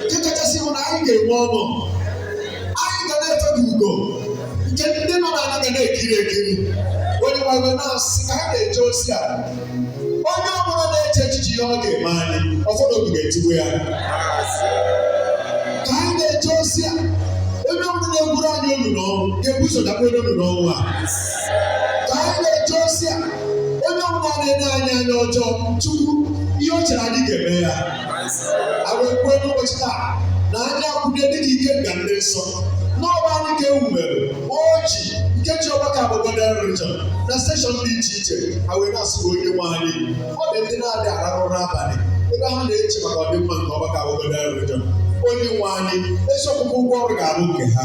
nke kachasị bụ na anyị ga-enwe ọṅụ anyị ga na-efe ka ugo nke ndị nọ n'ala ga na-ekiri ekiri onye nwe anyị na-asị ka anyị na-eje ozi a onye ọ bụla na-eche echiche ihe ọ ga-eme anyị ọfọdụ obi ga-etigbu ya ka anyị na-eje ozi a onye ọ bụla na-egwuru anyị olulu ọnwụ ga-ebu ụzọ dakwa n'ime olulu ọnwụ a ka anyị na-eje ozi a onye ọ bụla na-ele anyị anya ọjọọ chukwu ihe o chere anyị ga-eme ya anyị wee kwuo n'ụbọchị taa na anyị akwụnye dị ka ikenga ndị nsọ n'ọba anyị ka ewumere ọjị nke ji ọgbakọ a bụ godian religion na steshọn dị iche iche anyị wee na-asị onye nwe anyị ọ dị ndị na-adị arahụ ụra abalị ebe ha na-eche maka ọdịmma nke ọgbakọ a bụ godian religion onye nwe anyị ezi ọkwụkwụ ụgwọ ọrụ ga-abụ nke ha